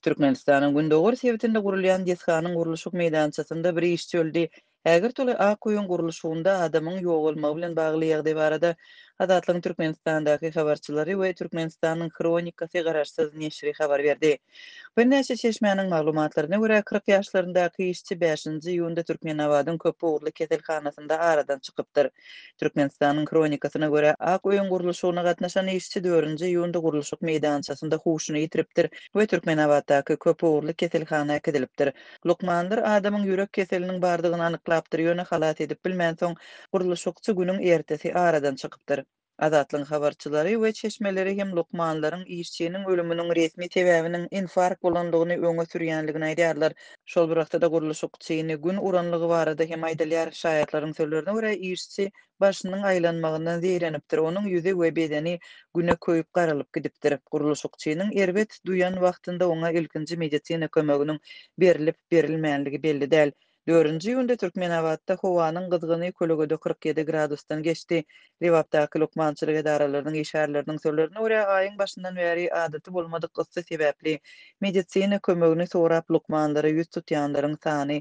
Türkmenistanyň gündogar sebitinde gurulýan desganyň gurluşyk meýdançasynda bir işçi öldi. Häzir toly ak öýüň gurluşygynda adamyň ýogalmagy bilen bagly ýagdaý barada Azatlygyň Türkmenistandaky habarçylary we Türkmenistanyň Hronikasy garaşsyz neşiri habar berdi. Birnäçe çeşmäniň maglumatlaryna görä, kyrk ýaşlaryndaky işçi bäşinji iýunda Türkmenabadyň köpugurly keselhanasynda aradan çykypdyr. Türkmenistanyň Hronikasyna görä, Ak öýüň gurluşygyna gatnaşan işçi dördünji iýunda gurluşyk meýdançasynda huşuny ýitiripdir we Türkmenabatdaky köp ugurly keselhana äkidilipdir. Lukmanlar adamyň ýürek keseliniň bardygyny anyklapdyr, ýöne halas edip bilmänsoň, gurluşykçy günüň ertesi aradan çykypdyr. Azatlygyň habarçylary we çeşmeleri hem lukmanlaryň işçiniň ölüminiň resmi sebäbiniň infarkt bolandygyny öňe sürýänligini aýdýarlar. Şol bir wagtda-da gurluşykçyny gün uranlygy barada hem aýdylýar. Şaýatlaryň sözlerine görä, işçi başynyň aýlanmagyndan zeýrenipdir, onuň ýüzi we bedeni güne köýüp garalyp gidipdir. Gurluşykçynyň erbet duýan wagtynda oňa ilkinji medisina kömeginiň berlip-berilmänligi belli däl. Dördünji iýunda Türkmenabatda howanyň gyzgyny kölegede kyrk ýedi gradusdan geçdi. Lebapdaky lukmançylyk edaralarynyň işgärleriniň sözlerine görä, aýyň başyndan bäri adaty bolmadyk yssy sebäpli medisina kömegini sorap lukmanlara ýüz tutýanlaryň sany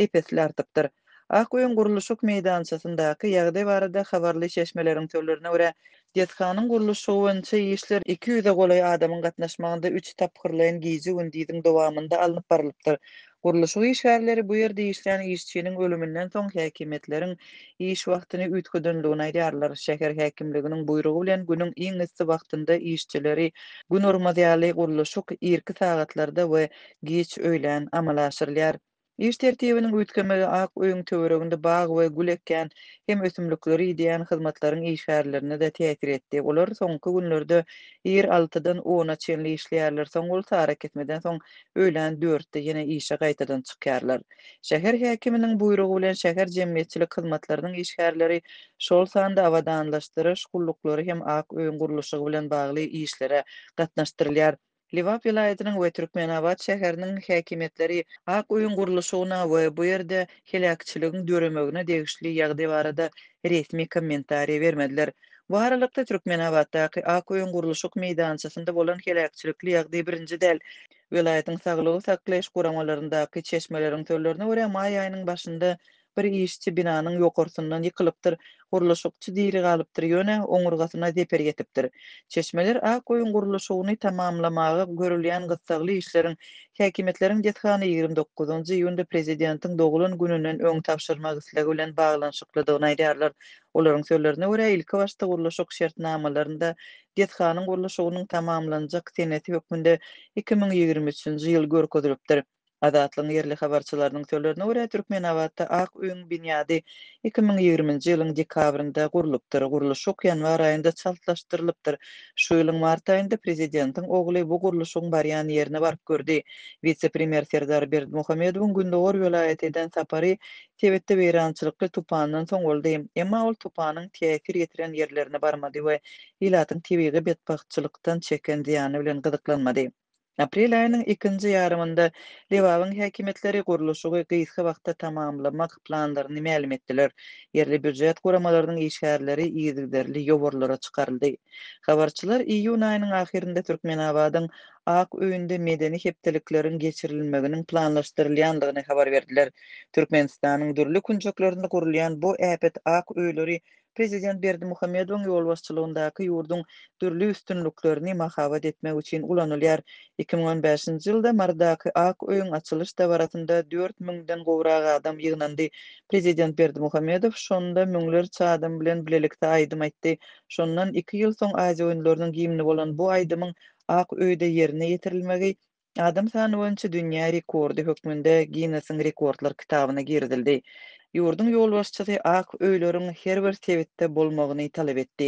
ep-esli artypdyr. Ak öýüň gurluşyk meýdançasyndaky ýagdaý barada habarly çeşmeleriň sözlerine görä, Desganyň gurluşygy boýunça işler iki ýüze golaý adamyň gatnaşmagynda üç tapgyrlaýyn gije-gündiziň dowamynda alnyp barylypdyr. Gurluşyk işgärleri bu ýerde işleýän işçiniň ölüminden soň häkimiýetleriň iş wagtyny üýtgedendigini aýdýarlar. Şäher häkimliginiň buýrugy bilen günüň iň yssy wagtynda işçileri gün urmaz ýaly gurluşyk irki sagatlarda we giç öýlän amala aşyrylýar. Iş tertibiniň üýtgemegi Ak öýüň töwereginde bag we gül ekýän hem ösümlikleri idýän hyzmatlaryň işgärlerine-de täsir etdi. Olar soňky günlerde ir altydan ona çenli işleýärler, soň bolsa arakesmeden soň öýlän dörtde ýene işe gaýtadan çykýarlar. Şäher häkiminiň buýrugy bilen şäher jemgyýetçilik hyzmatlarynyň işgärleri, şol sanda abadanlaşdyryş gulluklary hem Ak öýüň gurluşygy bilen bagly işlere gatnaşdyrylýar. Lebap welaýatynyň we Türkmenabat şäheriniň häkimiýetleri ak öýüň gurluşygyna we bu ýerde heläkçiligiň döremegine degişli ýagdaý barada resmi kommentariý bermediler. Bu aralykda, Türkmenabatdaky ak öýüň gurluşyk meýdançasynda bolan heläkçilikli ýagdaý birinji däl. Welaýatyň saglygy saklaýyş guramalaryndaky çeşmeleriň sözlerine görä, maý aýynyň başynda Bir işçi binanyň ýokarsyndan ýykylypdyr. Gurluşykçy diri galypdyr, ýöne oňurgasyna zeper ýetipdir. Çeşmeler Ak öýüň gurluşygyny tamamlamaga görülýän gyssagly işleriň häkimiýetleriň desgana ýigrimi dokuzynjy iýunda prezidentiň doglan gününden öň tabşyrmak islegi bilen baglanyşyklydygyny aýdýarlar. Olaryň sözlerine görä, ilkibaşda gurluşyk şertnamalarynda desganyň gurluşygynyň tamamlanjak senesi hökmünde iki müň ýigrimi üçünji ýyl görkezilipdir. Azatlygyň ýerli habarçylarynyň sözlerine görä, Türkmenabatda Ak öýüň binýady iki müň ýigriminji ýylyň dekabrynda gurlupdyr. Gurluşyk ýanwar aýynda çaltlaşdyrylypdyr. Şu ýylyň mart aýynda prezidentiň ogly bu gurluşygyň barýan ýerine baryp gördi. Wise-premýer Serdar Berdimuhamedowyň gündogar welaýata eden sapary sebitde weýrançylykly tupandan soň boldy. Emma ol tupanyň täsir ýetiren ýerlerine barmady we ilatyň tebigy betbagtçylykdan çeken zyýany bilen gyzyklanmady. Aprel aýynyň ikinji ýarymynda Lebabyň häkimiýetleri gurluşygy gysga wagtda tamamlamak planlaryny mälim etdiler. Ýerli býujet guramalarynyň işgärleri yzygiderli ýowarlara çykaryldy. Habarçylar iýun aýynyň ahyrynda Türkmenabadyň Ak öýünde medeni hepdelikleriň geçirilmeginiň planlaşdyrylýandygyny habar berdiler. Türkmenistanyň dürli künjeklerinde gurulýan bu äpet Ak öýleri Prezident Berdimuhamedowyň ýolbaşçylygyndaky ýurduň dürli üstünliklerini mahabat etmek üçin ulanylýar. Iki müň on bäşinji ýylda Marydaky Ak öýüň açylyş dabarasynda dört müňden gowrak adam ýygnandy. Prezident Berdimuhamedow şonda müňlerçe adam bilen bilelikde aýdym aýtdy. Şondan iki ýyl soň Aziýa oýunlarynyň gimni bolan bu aýdymyň Ak öýde ýerine ýetirilmegi Adam sany boýunça dünýä rekordy hökmünde Ginnesiň rekordlar kitabyna girizildi. Ýurduň ýolbaşçysy ak öýleriň her bir sebitde bolmagyny talap etdi.